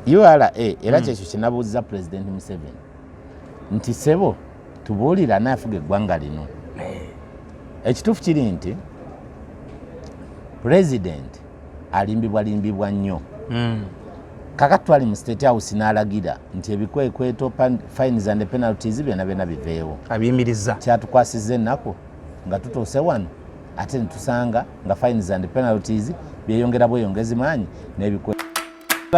ura era mm. kyekyo kinabuuziza president museven nti sebo tubuulira anafuga eggwanga lino eh. ekituufu kiri nti president alimbibwa limbibwa nnyo mm. kaka twali mu state house n'alagira nti ebikwekweto fines and penalties byona byona biveewo abiyimiriza kyatukwasiza ennaku nga tutuuse wano ate netusanga nga fines and penalties byeyongera bweyongezi maanyi nebikwe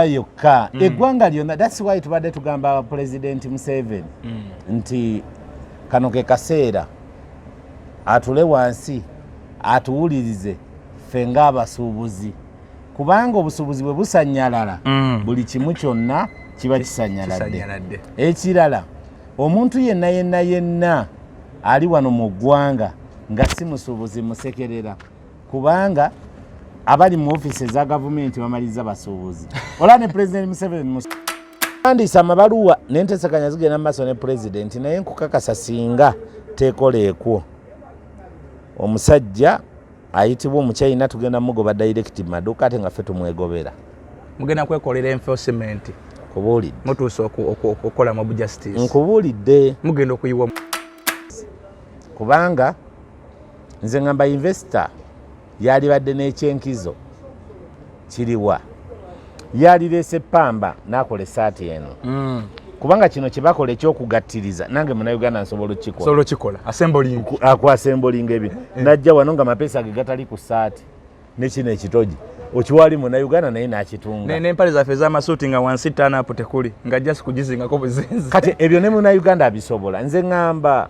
yokka mm. eggwanga lyonna thats why tubadde tugamba pulezidenti museveni mm. nti kano ke kaseera atule wansi atuwulirize ffe ng'abasuubuzi kubanga obusuubuzi bwe busanyalala mm. buli kimu kyonna kiba kisanyaladde ekirala omuntu yenna yenna yenna ali wano mu ggwanga nga si musuubuzi musekerera kubanga abali mu ofisi eza gavumenti bamaliza basuubuzi olaba ne pulezidenti museveni musandiisa amabaluwa nentesekanya zigenda mumaaso ne pulezidenti naye nkukakasa singa tekola ekwo omusajja ayitibwa omuchina tugenda mugoba direct maduka ate nga fe tumwegobera mugenda kwekolera enforcement kubuulidde mutuuse okukola mob justice nkubuulidde mugenda okuyiwa kubanga nze ngamba investor yalibadde n'ekyenkizo kiriwa yalireese pamba nakola esaati eno mm. kubanga kino kyebakola ekyokugattiriza nange munauganda nsobola okikolaakwasembolinga ebi eh. najja wano nga mapeesa ge gatali ku saati nekino ekitoji okiwali munauganda naye nakitunganaempale zaffe ezamasuuti nga wansi tanapu tekuli nga jasi kugizingako buzinzi kati ebyo ne munauganda abisobola nze ngamba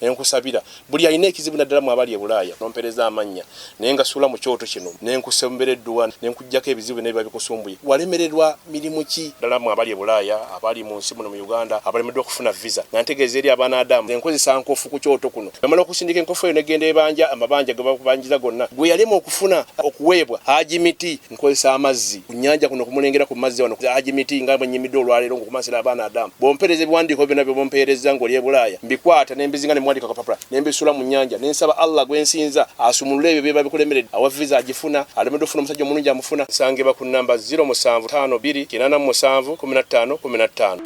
nenkusabira buli alina ekizibu naddala mwabali ebulaaya nompereza amannya naye nga suula mu kyoto kino nenkusembera edduwa nenkujjako ebizibu byonna biba bikusumbuye walemererwa mirimu ki ddala mwabali ebulaaya abali mu nsi muno mu uganda abalemeddwa okufuna visa nga ntegeeza eri abaana adamu enkozesa nkofu ku kyoto kuno namala okusindika enkofu eyo negenda ebanja amabanja gebakubanjiza gonna gwe yalema okufuna okuweebwa haji miti nkozesa amazzi ku nyanja kuno kumulengera ku mazzi wano haji miti nga bwenyimidde olwaleero ngokumansira abaana adamu bwompereza ebiwandiiko byona byebompeerezza ngoli ebulaaya mbikwata nembizinga nemuwandika kapapula nembisula mu nyanja nensaba allah gwensinza asumulule ebyo byeba bikulemeredde awa visa agifuna alemedde ofuna omusajja omulungi amufuna nsangibwa ku namba 0 musanvu tano biri kinana mu musanvu kumi na ttaano kumi na ttaano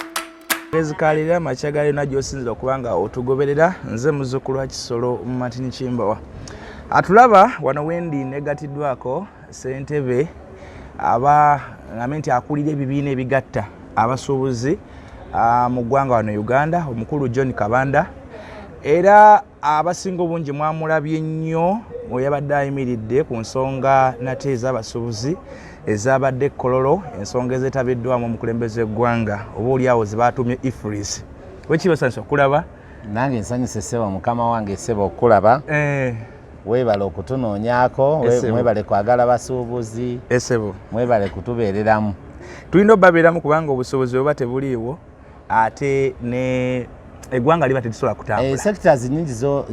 ezikalira makya ga yona gyosinzira okubanga otugoberera nze muzukulu wa kisolo mumatini kimbowa atulaba wano wendi negatiddwako Ssentebe aba ngambe nti akulira ebibiina ebigatta abasuubuzi mu ggwanga wano Uganda omukulu John Kabanda era abasinga obungi mwamulabye nnyo weyabadde ayimiridde ku nsonga nate ez'abasuubuzi ezabadde ekkololo ensonga ezetabiddwamu omukulembeze eggwanga oba oliawo zebatuumye ifris wekibasanisa okulaba nange nsanyuse sebo mukama wange sebo okulaba eh. webale okutunoonyako mwebale kwagala basuubuzi esebo eh, mwebale kutubeereramu tulina obabeeramu kubanga obusobozi oba tebuliiwo ate ne eggwanga liba terisobola kutambula eh, sectors nyingi zo,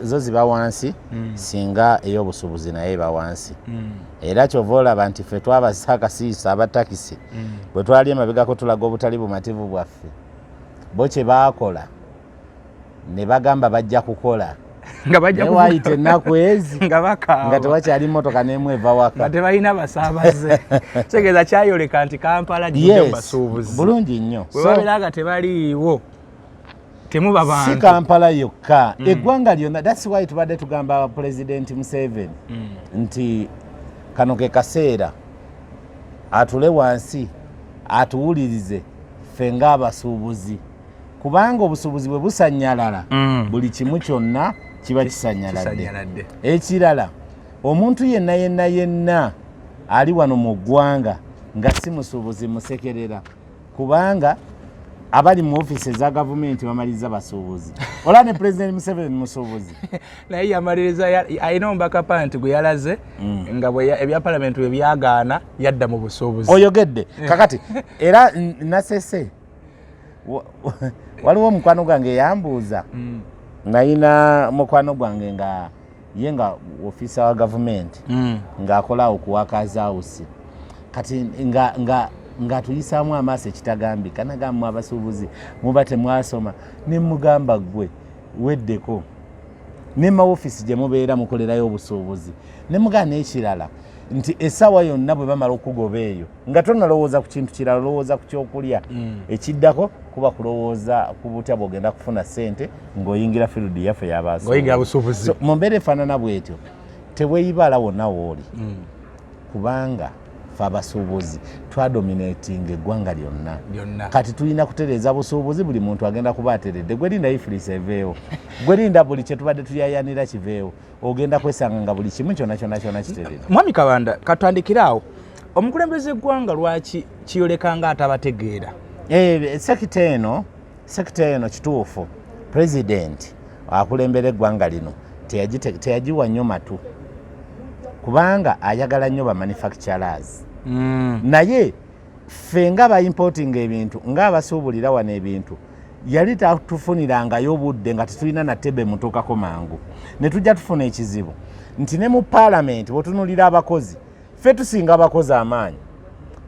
zo ziba wansi mm. singa ey'obusuubuzi naye eba wansi mm. era kyova olaba nti ffe twabasa akasiisa abatakisi mm. bwe twali emabegako tulaga obutali bumativu bwaffe bo kye baakola ne bagamba bajja kukola nga bajja kuwayita ennaku ezi nga bakaaba nga tewakyali mmotoka n'emu eva waka nga tebalina basaabaze kitegeeza kyayoleka nti kampala gidde mu basuubuzi bulungi nnyo bwe babeera nga tebaliiwo temuba bantu si kampala yokka mm. eggwanga lyonna that's why tubadde tugamba pulezidenti museveni mm. nti kano ke kaseera atule wansi atuwulirize ffe ng'abasuubuzi kubanga obusuubuzi bwe busanyalala mm. buli kimu kyonna kiba kisanyaladde ekirala omuntu yenna yenna yenna ali wano mu ggwanga nga si musuubuzi musekerera kubanga abali mu ofisi eza gavumenti bamaliza basuubuzi olaba ne pulezidenti museveni musuubuzi naye yamaliriza alina omubaka panti gwe yalaze mm. nga ebya palamenti bwe byagaana yadda mu busuubuzi oyogedde eh. kakati era nasese waliwo omukwano gwange eyambuuza mm. nayina mukwano gwange nga ye nga ofiisa wa gavumenti mm. ng'akola okuwakaza awusi kati nga nga ng'atuyisaamu amaaso ekitagambika nagamba mu abasuubuzi muba temwasoma ne mugamba ggwe weddeko ne mawofiisi gye mubeera mukolerayo obusuubuzi ne mugaa n'ekirala nti essaawa yonna bwe bamala okugoba eyo nga tonalowooza ku kintu kirala olowooza ku kyokulya mm. ekiddako kuba kulowooza ku butya bwogenda kufuna ssente ng'oyingira field yaffe yabaasuubuzi mu mbeera efaanana bwetyo teweyibaala wonna wooli mm. kubanga fe abasuubuzi twadominatinga eggwanga lyonna kati tulina kutereeza busuubuzi buli muntu agenda kuba ateredde gwerinda ifulisa eveewo gwerinda buli kyetubadde tuyayanira kiveewo ogenda kwesanga nga buli kimu kyona kyona kyona kiterere mwami kabanda katwandikire awo omukulembeze eggwanga lwaki kiyoleka nga atabategeera eh, sekita eno Sekita eno kituufu pulezidenti akulembera eggwanga lino teyagiwa nnyo matu kubanga ayagala nnyo bamanufacturers mm. naye ffe nga baimportinga ebintu nga abasuubulira wano ebintu yali tatufunirangayo obudde nga tetulina natebe mutuukako mangu ne tujja tufuna ekizibu nti ne mu paalamenti bwetunulira abakozi ffe tusinga abakozi amaanyi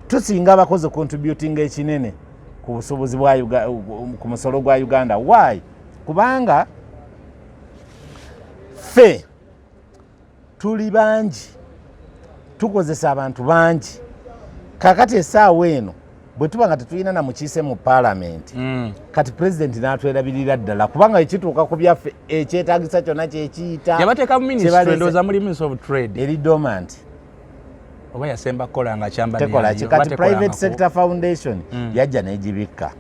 tusinga abakozi contributinga ekinene ku busuubuzi ku musolo gwa uganda why kubanga ffe tuli bangi tukozesa abantu bangi kakati esaawa eno bwe tuba nga tetulina na mukiise mu paalamenti mm. kati pulezidenti n'atwerabirira ddala kubanga ekituuka ku byaffe ekyetagisa kyonna kyekiyita eri domanti oba yasemba kukola nga kyamba tekola kikati private sector foundation mm. yajja negibikka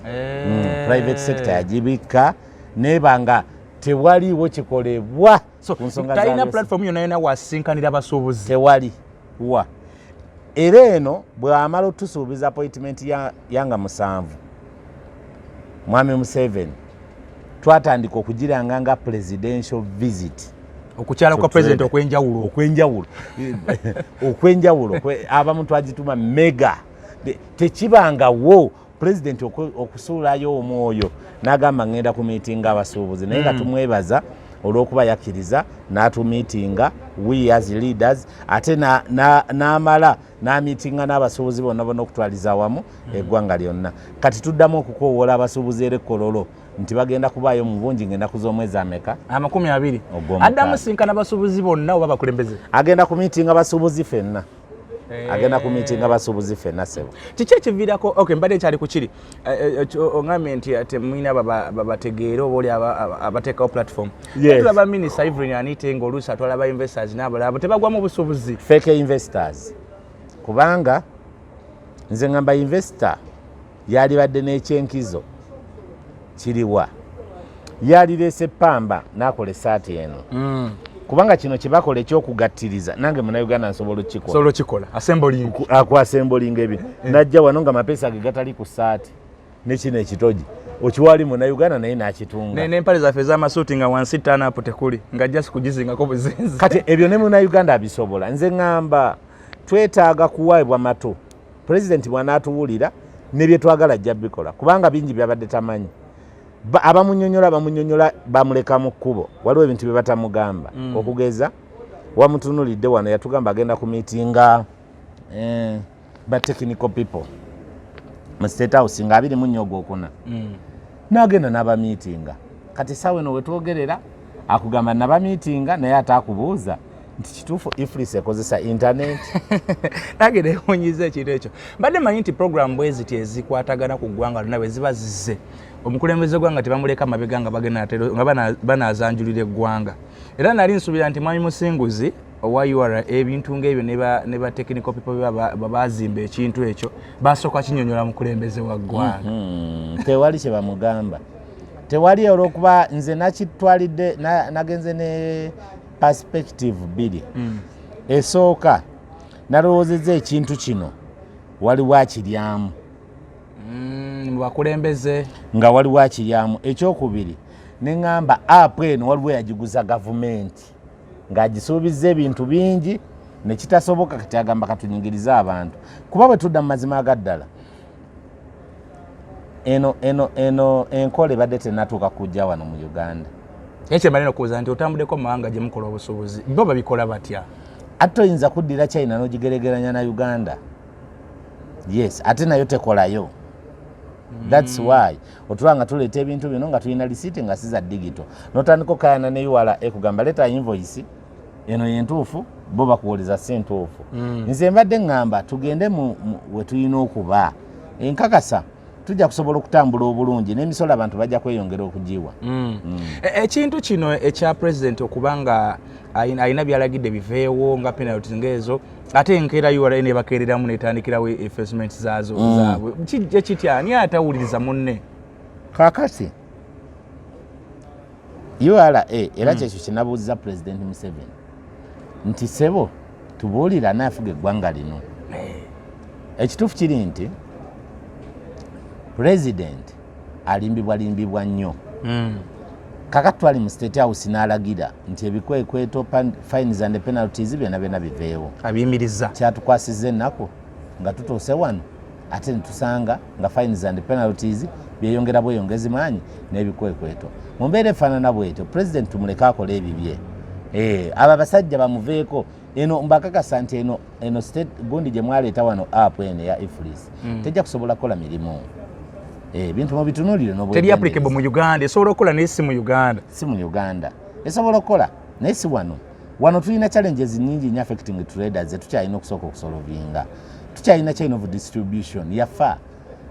eh. mm, private sector yagibikka neba nga tewaliwo kikolebwa so, talina platform yona yona wasinkanira abasuubuzi tewali wa era eno bwewamala otusuubiza appointment yanga ya musanvu mwami museven twatandika okugiranga nga presidential visit okukyala kwa president okwenjawulo okwenjawulo okwenjawulo abamu twagituma mega tekibangawo president okusuulayo omwoyo nagamba ngenda ku miitinga abasuubuzi naye nga mm. tumwebaza olwokuba yakkiriza n'atumiitinga we as leaders ate n'amala na, na n'amiitinga n'abasuubuzi bonna bonna okutwaliza awamu hmm. eggwanga lyonna kati tuddamu okukoowoola abasuubuzi era ekkololo nti bagenda kubaayo mu bungi ng'ennaku z'omwezi ameka amakumi abiri addamu sinkana basuubuzi bonna oba bakulembeze agenda ku miitinga basuubuzi fenna eh. agenda ku miitinga basuubuzi fenna sebo kiki ekiviirako ok mbadde ekyali ku kiri Eh, eh, ongambye nti ate eh, mwina babategeere oba oli abateekawo platform tula ba minister ivrin anite nga oluusi atwala ba investors nabalabo tebagwamu busubuzi feke investors kubanga nze ngamba investor yalibadde n'ekyenkizo kiriwa yalireese pamba n'akola esaati eno mm. kubanga kino kyebakola ekyokugattiriza nange munauganda nsobola okikolaokikola akwasembolinga ebyo eh. najja wano nga mapeesa ge gatali ku saati nekino ekitogi okiwali munauganda naye nakitunga nempale zaffe ezamasuuti nga wansi tanapu tekuli nga jasi kugizingako buzinzi kati ebyo ne munauganda abisobola nze ŋamba twetaaga kuwaibwa mato pulezidenti bwanaatuwulira nebyetwagala ajja bikola kubanga bingi byabadde tamanyi abamunyonyola bamunyonyola bamuleka mu kkubo waliwo ebintu bye batamugamba mm. okugeza wamutunulidde wano yatugamba agenda ku miitinga eh, ba technical people mu state house nga abiri mu nnyo gwokuna mm. nagenda n'abamiitinga kati saawa eno wetwogerera akugamba nabamiitinga naye ate akubuuza nti kituufu iflis ekozesa internet nange newunyiza ekintu ekyo mbadde manyi nti program bweziti ezikwatagana ku ggwanga lona bweziba zize omukulembeze gwanga tebamuleka mabega nga bagenda nga banazanjulira eggwanga era nali nsubira nti mwami musinguzi owa ura ebintu ngaebyo ne ba technical people bebazimba ekintu ekyo basooka kinyonyola mukulembeze wa ggwanga mm-hmm. tewali kyebamugamba tewali olwokuba nze nakitwalidde nagenze ne perspective bbiri mm. esooka nalowoozeza ekintu kino waliwo akiryamu mm, bakulembeze nga waliwo akiryamu ekyokubiri neŋamba apu eno waliwo yagiguza gavumenti ng'agisuubizza ebintu bingi nekitasoboka kati agamba katunyigirize abantu kuba bwe tudda mu mazima agaddala eno eno eno enkola ebadde tenatuuka kujja wano mu uganda naye kyemali nokubuuza nti otambudeko mu mawanga gye mukola obusuubuzi bo babikola batya ate oyinza kuddira china nogigeregeranya na uganda yes ate nayo tekolayo thats mm. why otuba nga tuleeta ebintu bino nga tulina lisiti nga siza digito notandika okayana ne ura ekugamba leta invoice eno yentuufu bo bakuwuliza si ntuufu mm. nze mbadde ŋŋamba tugende we tulina okuba enkakasa tujja kusobola okutambula obulungi n'emisolo abantu bajja kweyongera okugiwa mm. mm. E, ekintu mm. e, kino ekya pulezidenti okuba nga alina byalagidde biveewo nga penalti ngaezo ate enkeera ura nebakeereramu netandikirawo efacement zaazo mm. zaabwe ekitya ani atawuliriza munne kakati ura era mm. kyekyo kinabuuzza pulezidenti museveni nti sebo tubuulira naafuga eggwanga lino eh. ekituufu kiri nti pulezidenti alimbibwa limbibwa nnyo mm. kaka twali mu state house n'alagira nti ebikwekweto fines and penalties byona byona biveewo abiyimiriza kyatukwasiza ennaku nga tutuuse wano ate netusanga nga fines and penalties byeyongera bweyongezi maanyi n'ebikwekweto mu mbeera efaanana bwetyo pulezidenti tumuleke akola ebibye eh, abo abasajja bamuveeko eno mbakakasa nti eno eno state gundi gye mwaleeta wano app eno eya ifris mm. tejja kusobola kukola mirimu eh, ebintu mubitunulire nobteri applicable mu uganda esobola okukola naye si mu uganda si mu uganda esobola okukola naye si wano wano tulina challenges nyingi nyo affecting traders zetukyalina okusooka okusolovinga tukyalina chain of distribution yafa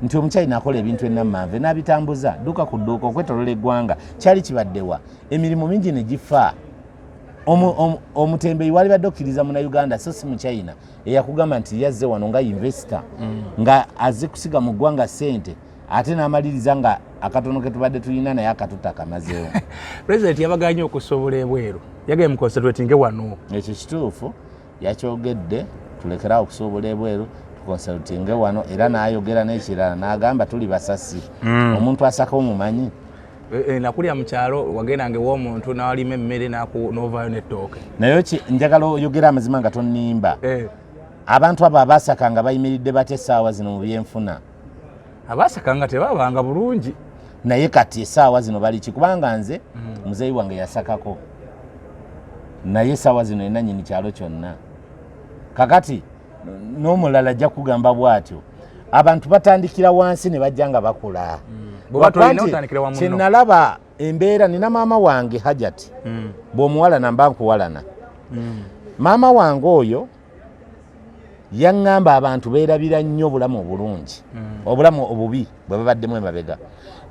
nti omukyalina akola ebintu enammanve n'abitambuza duuka ku dduuka okwetolola eggwanga kyali kibaddewa emirimu mingi ne gifa omutembeyi wali badde okkiriza muna uganda so si muchina eyakugamba nti yazze wano nga investor mm. nga aze kusiga mu ggwanga sente ate n'amaliriza nga akatono ke tubadde tulina naye akatuta akamazeewo president yabaganye okusobola ebweru yagaye mu concentratinge wano ekyo kituufu yakyogedde tulekerawo okusuubula ebweru tukonsultinge wano era n'ayogera n'ekirala n'agamba tuli basasi hmm. omuntu asaka omumanyi eh, eh, nakulira mu kyalo wagendanga ew'omuntu n'alima emmere n'ovaayo n'ettooke naye njagala oyogera amazima nga tonnimba eh. abantu abo abasaka nga bayimiridde batya essaawa zino mu byenfuna abaasekanga tebabanga bulungi naye kati esaawa zino baliki kubanga nze mm. muzeeyi wange yasakako naye esaawa zino ena nyini kyalo kyonna kakati n'omulala ajja kugamba bwatyo abantu batandikira wansi ne bajja nga bakula mm. kyenalaba embeera nina maama wange hajati mm. bw'omuwalana mba nkuwalana maama wange oyo yaŋŋamba abantu beerabira nnyo obulamu obulungi mm. obulamu obubi bwe babaddemu emabega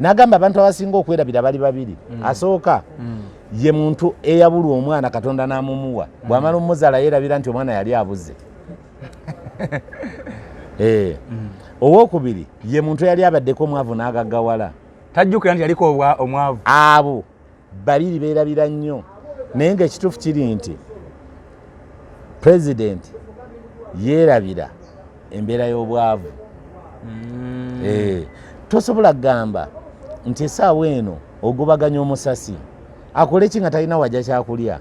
n'agamba abantu abasinga okwerabira bali babiri mm. asooka mm. ye muntu eyabulwa omwana katonda n'amumuwa bw'amala omuzala yeerabira nti omwana yali abuze eh. owokubiri ye muntu yali abaddeko omwavu n'agaggawala tajjukira nti yaliko omwavu abo babiri beerabira nnyo naye ngaekituufu kiri nti pulezidenti yeerabira embeera y'obwavu mm. eh, tosobola kugamba nti esaawa eno ogobaganya omusasi akoleki nga talina wajja kyakulya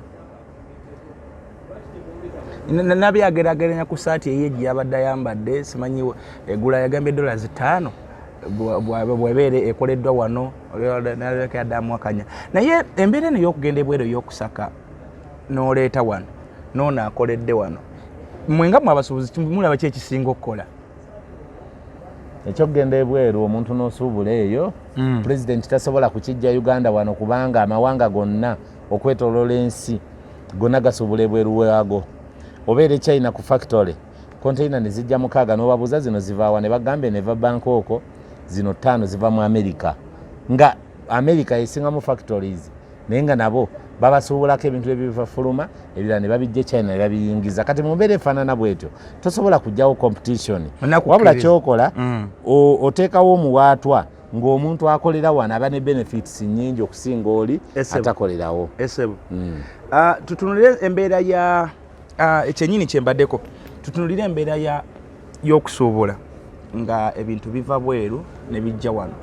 nabi agerageranya ku saati eye gyeyabadde ayambadde simanyi egula yagambye dola zitaano bwebeera ekoleddwa wano yadamwakanya naye embeera eno yokugenda ebweru eyokusaka noleeta wano noono akoledde wano mwe nga mwe abasuubuzi mulaba ki ekisinga okukola ekyokugenda ebweru omuntu nosuubula eyo mm. pulezidenti tasobola kukijja uganda wano kubanga amawanga gonna okwetolola ensi gona gasobola ebweru waago obeera echina ku factory konteina ne zijja mukaaga n'obabuuza zino zivaawa ne bagambe neva banka oko zino ttaano ziva mu america nga america yesingamu factories naye nga nabo babasuubulako ebintu ebibafuluma ebirala ne babijja echina ne babiyingiza kati mu mbeera efaanana bwetyo tosobola kujjawo competition wabula kyokola mm. oteekawo omuwaatwa ng'omuntu akolera wano aba ne benefits nyingi okusinga oli atakolerawo esebo mm. uh, tutunulire embeera ya uh, ekyenyini kyembaddeko tutunulire embeera ya y'okusuubula nga ebintu biva bweru ne bijja wano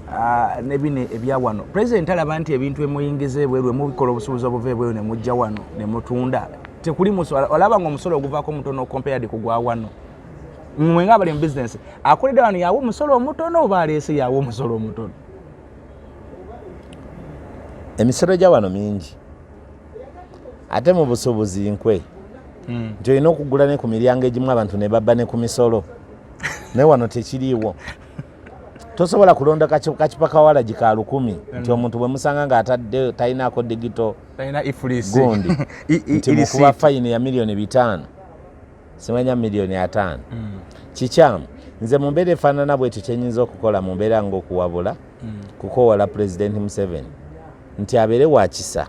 uh, ne bino ebya wano pulezidenti alaba nti ebintu emuyingiza ebweru emubikola obusuubuzi obuva ebweru ne mujja wano ne mutunda tekuli olaba nga omusolo oguvaako mutono compared ku gwa wano mwe nga abali mu bizinesi akolera wano yawa omusolo omutono oba aleese yawa omusolo omutono emisolo gya wano mingi ate mu busuubuzi nkwe hmm. nti olina okugula ne ku miryango egimu abantu ne babba ne ku misolo naye wano tekiriiwo tosobola kulonda kakipa kawalagi ka lukumi nti mm. omuntu bwemusanga nga atadde talinako digito gundi nti mukuba fayini ya miliyoni bitaano simanya miliyoni ataano mm. kikyamu nze mu mbeera efaanana bwetyo kyenyinza okukola mu mbeera ngaokuwabula mm. kukowala pulezidenti museveni nti abeere wakisa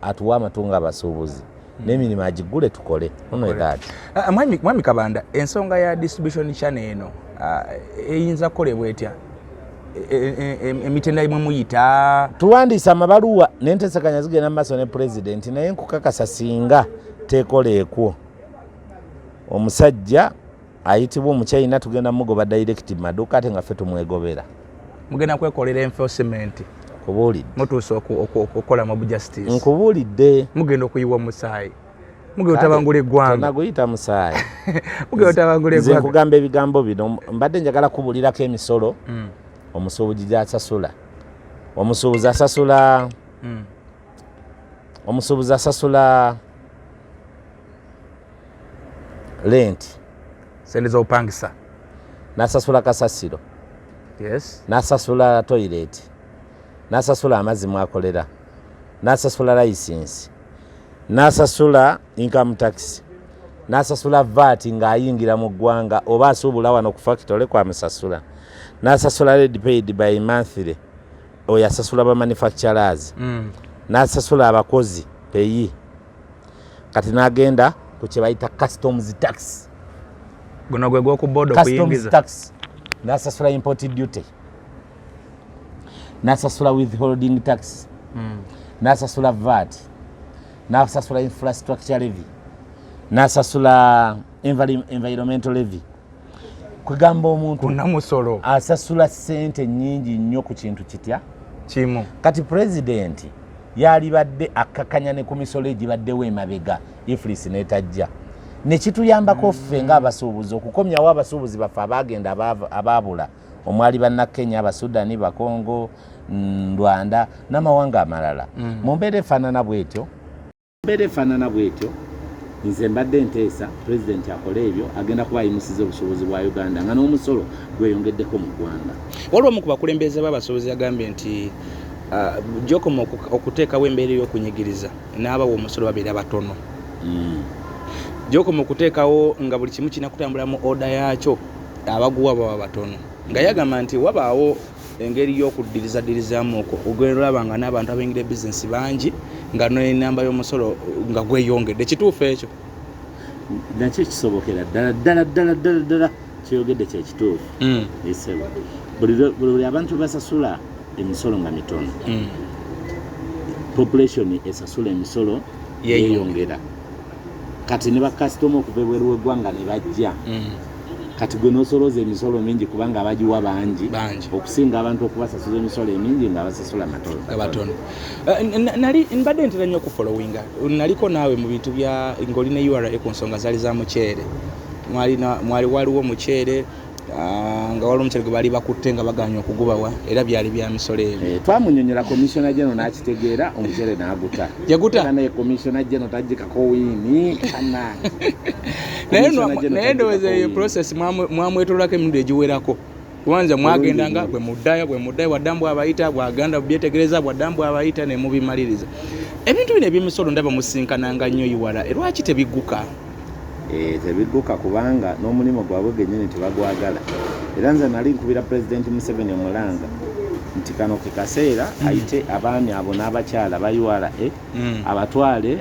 atuwa amatu nga abasuubuzi mm. nemirimu agigule tukole ah, ah, mwami kabanda ensonga ya distribution chane eno ah, eyinza kukolebwa etya e, e, e, emitenda imwe muyita tuwandiisa amabaluwa nentesekanya zigenda mu maaso ne pulezidenti naye nkukakasa singa tekola ekwo omusajja ayitibwa omuchina tugenda mugoba direct maduka ate nga fe tumwegobera mugenda kwekolera enforcement nkubuulidde mutuuse okukola mob justice nkubuulidde mugenda okuyiwa omusaayi mugenda otabangula eggwanga naguyita musaayi mugenda otabangula eggwanga nze nkugamba ebigambo bino mbadde njagala kubulirako emisolo hmm. omusuubuzi gyasasula omusuubuzi asasula hmm. omusuubuzi asasula lenti sente z'obupangisa nasasula kasasiro yes. nasasula toyireti nasasula amazzi mwakolera nasasula layisinsi nasasula income tax nasasula vaati ng'ayingira mu ggwanga oba asuubula wano ku fakitole kwamusasula nasasula red paid by monthly oyo asasula bamanufacturers mm. nasasula abakozi peyi kati nagenda ku kyebayita customs tax guno gwe gwoku boda okuyingiza tax nasasula import duty nasasula withholding tax mm. nasasula vat nasasula infrastructure levy nasasula environmental levy kwegamba omuntu kunamusolo asasula sente nyingi nnyo ku kintu kitya kimu kati pulezidenti yalibadde akkakanya ne ku misolo egibaddewo emabega iflis netajja nekituyambako ffe mm. ngaabasuubuzi okukomyawo abasuubuzi baffe abaagenda abaabula omwali bannakenya abasudani bakongo mm, rwanda n'amawanga amalala mm. mu mbeera efaanana bwetyo mbeera efaanana bwetyo nze mbadde nteesa pulezidenti akole ebyo agenda kuba ayimusiza obusobozi bwa uganda nga n'omusolo gweyongeddeko mu ggwanga waliwo omu ku bakulembeze b'abasuubuzi yagambye nti ah, gyokoma okuteekawo embeera ey'okunyigiriza n'abawa omusolo babeera batono hmm. gyokoma okuteekawo nga buli kimu kirina kutambula mu oda yaakyo abaguwa baba batono nga yagamba nti wabaawo engeri y'okuddirizaddirizaamu okwo ogenda olaba nga n'abantu abaingira ebizinesi bangi nga n'enamba y'omusolo nga gweyongedde kituufu ekyo nakyo ekisobokera ddala ddala ddala ddala ddala kyeyogedde kyekituufu hmm. esebo buli abantu basasula emisolo nga mitono hmm. population esasula emisolo yeyongera kati ne bakasitoma okuva ebweru w'eggwanga ne bajja mm. kati gwe n'osolooza emisolo mingi kubanga abagiwa bangi okusinga abantu okubasasuza emisolo emingi nga basasula matonoabatono eh, nali mbadde ntera nnyo okufolowinga naliko naawe mu bintu bya ng'oli ne ura ku nsonga zaali za muceere mwali waliwo muceere Ah, nga waliwo omukyere gwe baali bakutte nga baganya okugubawa era byali bya misolo ebyo eh, twamunyonyola komisona geno n'akitegeera omukyere n'aguta yaguta naye komisona geno tajikako wiini naye ndowooza eyo process mwamwetololako emirundi egiwerako kubanza mwagendanga bwe muddayo bwe muddayo bwadda mbu abayita bwaganda bubyetegereza bwadda mbu abayita ne mubimaliriza ebintu bino ebyemisolo ndaba musinkananga nnyo iwala e lwaki tebigguka Eh, tebidduka kubanga n'omulimu gwabwe genyini tebagwagala era nze nali nkubira pulezidenti museveni omulanga nti kano ke kaseera mm. ayite abaami abo n'abakyala ba ura mm. abatwale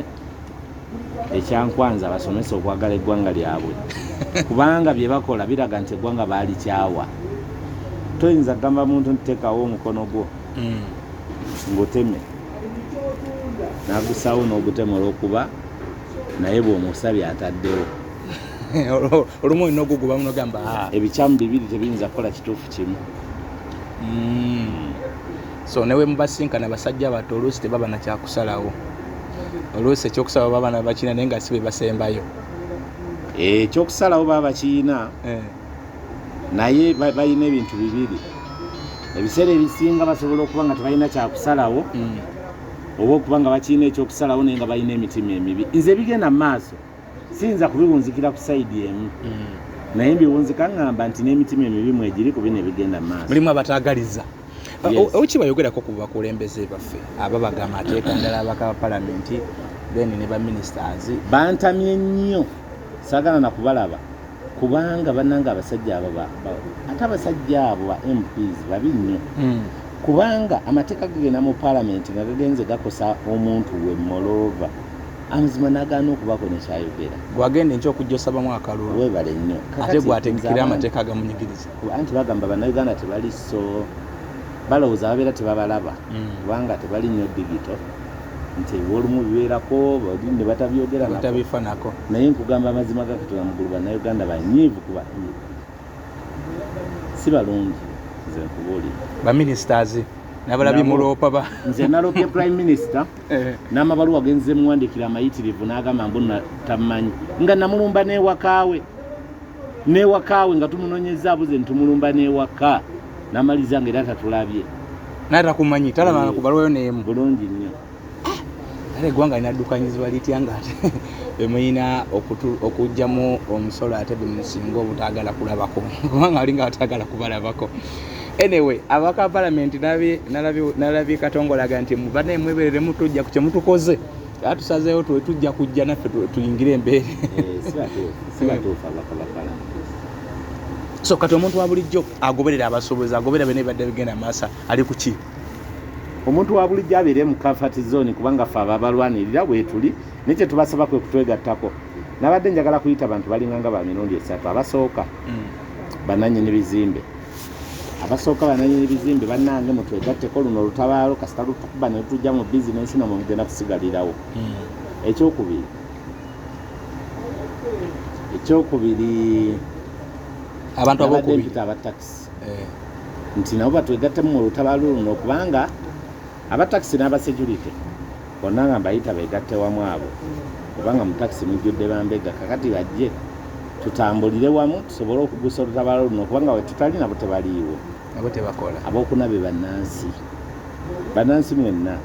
ekyankwanza abasomesa okwagala eggwanga lyabwe kubanga bye bakola biraga nti eggwanga baalikyawa toyinza kugamba muntu nti tekawo omukono gwo mm. nguteme nagusawo n'ogutema olwokuba naye bwomusabye ataddewo olumu olina ogugubamu nogamba ah. ebikyamu bibiri tebiyinza kukola kituufu kimu mm. so newe mubasinkana basajja bato oluusi tebaba nakyakusalawo oluusi ekyokusalawo baba nabakina naye nga si bebasembayo eh, ekyokusalawo baba bakiyina eh. naye balina ebintu bibiri ebiseera ebisinga basobola okuba nga tebalina kyakusalawo mm. oba okuba nga bakirina ekyokusalawo naye nga balina emitima emibi nze ebigenda mu maaso siyinza kubiwunzikira ku sayidi emu mm. naye mbiwunzika ngamba nti n'emitima emibi mwegiri ku bino ebigenda mu maaso mulimu abatagaliza oki bayogerako ku bakulembeze baffe aba bagamba ateeka ndala abaka ba palamenti then ne baministers bantamye nnyo sagala nakubalaba Kubanga banange abasajja abo ba, ba ate abasajja abo ba MPs babi nnyo mm. Kubanga amateeka gagenda mu palamenti nga gagenze gakosa omuntu we molova amazima nagaana okubaako nekyayogera gwagenda enkya okujja osabamu akalulu webale nnyo ate gwategekera amateeka agamunyigiriza anti bagamba bannayuganda tebali so balowooza babeera tebabalaba mm. kubanga tebali nnyo digito nti olumu bibeerako bali ne batabyogera batabifanako naye nkugamba amazima ga katonda mugulu bannayuganda banyiivu kuba si balungi nze nkubuulira baministers nabalabi muloopa ba nze nalopye prime minister eh. n'amabaluwa genze muwandikira amayitirivu n'agamba mbu tamanyi nga namulumba n'ewakaawe n'ewakaawe nga tumunonyeza abuze nti tumulumba n'ewaka Namaliza nga era tatulabye. Naye takumanyi talaba na kubalwayo n'emu. Bulungi nnyo. Era eggwanga linaddukanyizibwa litya nga ate bemulina okugyamu omusolo ate bemusinga obutagala kulabako kubanga alinga batagala kubalabako anyway abaka palamenti nalabye katongolaga nti mubanaye mweberere mutujja ku kyemutukoze era tusazeewo tujja kujja naffe tuyingire embeere eh, so kati omuntu wa bulijjo agoberera abasuubuzi agoberera byona ebibadde bigenda maasa ali kuki omuntu wa bulijjo abeere mu comfort zone kubanga fe ababalwanirira bwetuli naye kyetubasaba kwe kutwegattako nabadde njagala kuyita bantu balinganga ba mirundi esatu abasooka mm. bananyini bizimbe abasooka bananyini bizimbe banange mutwegatteko luno olutabaalo kasita lutukuba netujja mu bizinensi namwe mugenda kusigalirawo mm. ekyokubiri ekyokubiri abantu abokubita aba taxi eh. nti nabo batwegattemu mu lutabaalo luno kubanga aba taxi n'abasecurity bonna nga mbayita begatte wamu abo kubanga mu taxi mujjudde bambega kakati bajje tutambulire wamu tusobole okugusa olutabaalo luno kubanga wetutali nabo tebaliiwo abo tebakola abokuna be bannansi bannansi mwenna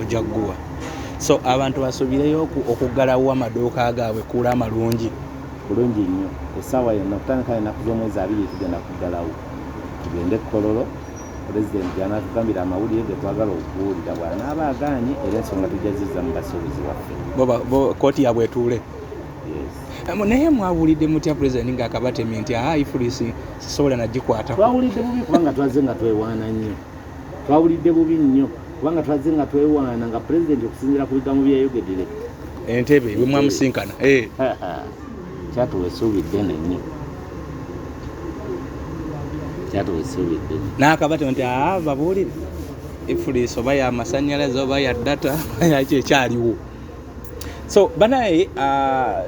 ojja guwa so abantu basubireyo okuggalawo amaduuka gaabwe kuula amalungi bulungi nnyo esaawa yonna okutandika enaku z'omwezi abiri tugenda kuggalawo tugende kukololo pulezidenti gyanatugambira amawulire ge twagala okuwulira bwanaaba agaanye era ensonga tujja ziza mu basuubuzi waffe kooti yabwe etuule naye mwawulidde mutya pulezidenti ng'akabatemi nti aha ifulisi sisobola nagikwata twawulidde bubi kubanga twaze nga twewaana nnyo Twawulidde bubi nnyo kubanga twazze nga twewaana nga pulezidenti okusinziira ku bigambo bye yayogedde leka entebe bwe mwamusinkana eh. kyatuwa essuubi ddene nnyo kyatuwa essuubi ddene n'akabata nti aa ah, babuulire ifuliisi oba yamasannyalaze oba ya data yaki ekyaliwo so banaye uh,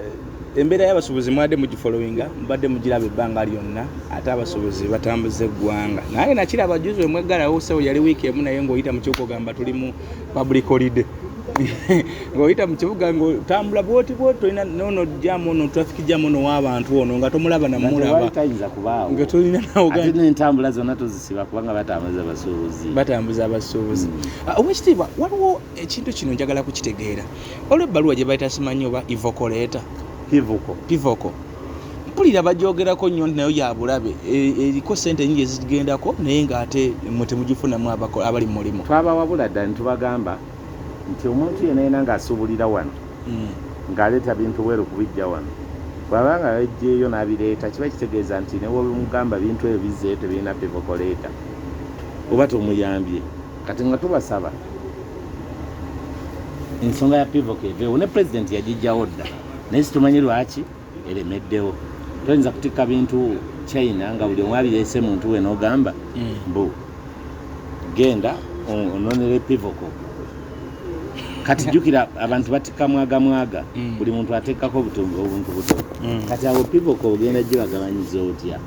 embeera y'abasuubuzi mwade mugifolowinga mubadde mugiraba ebbanga lyonna ate abasuubuzi batambuza eggwanga naye nakiraba juzi wemweggalawo sewo yali wiiki emu naye ng'oyita mu kibuga ogamba tuli mu public holiday ng'oyita mu kibuga ng'otambula bwoti bwoti tolina nono jamu ono traffic jamu ono w'abantu ono nga tomulaba namulabatayiza kubaawo nga tolina nawoate n'entambula zonna tuzisiba kubanga batambuza abasuubuzi batambuza abasuubuzi hmm. ah, owekitiibwa waliwo ekintu kino njagala kukitegeera olwo ebbaluwa gye bayita simanyi oba ivokoleeta pivoko pivoko mpulira bagyogerako nnyo nti nayo yabulabe e, eriko sente nyingi ezigendako naye ngaate mwe temugifunamu abali mu mulimu twabawabula dda nitubagamba nti omuntu yena yena ngaasuubulira wano hmm. ng'aleeta bintu bweru kubijja wano bwaba nga yajjeeyo n'abireeta kiba kitegeeza nti newebimugamba bintu ebyo bizzeeyo tebirina pivokoleeta oba tomuyambye kati nga tubasaba ensonga ya pivoka eveewo ne pulezidenti yagijjawo dda naye situmanyi lwaki eremeddewo toyinza kutikka bintu china nga buli omu abireese muntu we n'ogamba mm. mbu genda ononere pivoko kati jjukira abantu batikka mwaga mwaga mm. buli muntu ateekako obuntu buto mm. kati abo pivoko ogenda gye bagabanyiza otya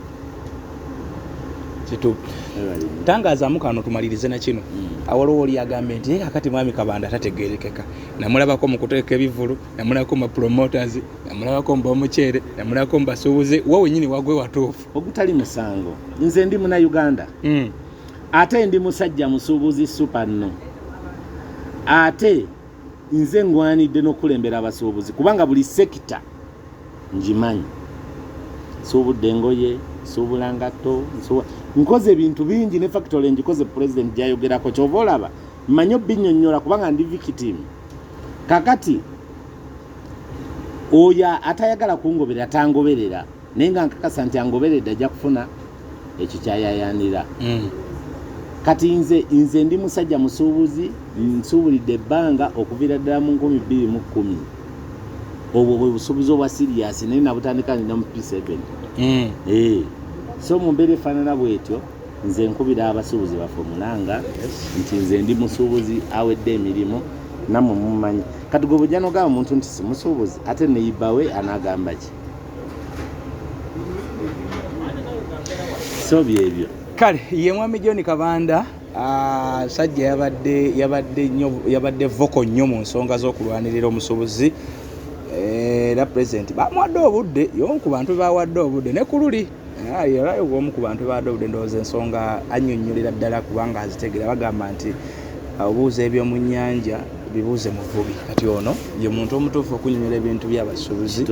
tangazaamu kano tumalirize na kino hmm. awaliwo oli agambye nti yeka kati mwami kabanda tategerekeka namulabako mu kuteeka ebivulu namulabako mu promoters namulabako mu bamuceere namulabako mu basuubuzi wa wenyini wagwe watuufu ogutali musango nze ndi muna uganda hmm. ate ndi musajja musuubuzi supa nno ate nze ngwanidde n'okukulembera abasuubuzi kubanga buli sekita ngimanyi nsuubudde engoye nsuubula ngatto nkoze ebintu bingi ne factory ngikoze pulezidenti gyayogerako kyova olaba mmanyi obinnyonnyola kubanga ndi victim kakati oyo atayagala kungoberera tangoberera naye nga nkakasa nti angoberedde ajja kufuna ekikyayayanira mm. kati nze nze ndi musajja musuubuzi nsuubulidde ebbanga okuviira ddala mu nkumi bbiri mu kkumi obwo bwe busuubuzi obwa siriyasi naye nabutandika nina mu p7 mm. eh. so mu mbeera efaanana bwetyo nze nkubira abasuubuzi baffe omulanga nti nze ndi musuubuzi awedde emirimu namwe mumanyi kati gwe bujja nogamba omuntu nti simusuubuzi ate neyibawe anagamba ki so byebyo kale ye mwami john kabanda ah, sajja yabadde yabadde nyo yabadde voko nnyo mu nsonga z'okulwanirira omusubuzi eh, era pulezidenti bamuwadde obudde yomu ku bantu bebawadde obudde ne ku luli era omu ku bantu baadde obudde ndowooza ensonga annyonnyolera ddala kubanga azitegera bagamba nti obuuza eby'omu nnyanja bibuuze muvubi kati ono ye muntu omutuufu okunyonyola ebintu byabasuubuzi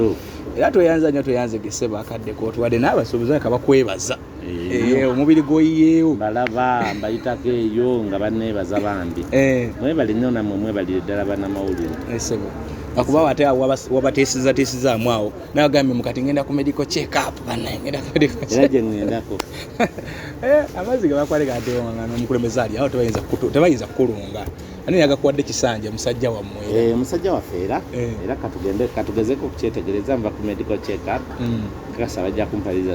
era tweyanza nyo tweyanze gese bakadde kotuwadde n'abasuubuzi aka bakwebaza eh, eh, omubiri gwoyiyeewo balaba mbayitako eyo nga baneebaza bambi eh. mwebali nyo namwe mwebalire ddala banamawulire akuba ate wabateesezatiisizaamu awo nawe gambe mukati ngenda ku medical check up banangenda ku medical check era ngendako eh amazi gabakwale gade wanga no mukulembeza ali awo tebayinza kukutu tebayinza kukulunga ani yaga kuwadde kisanja musajja wa mwe eh musajja wa fera eh. era katugende katugezeko kuchetegereza mba ku medical check up mm. kasa bajja kumpaliza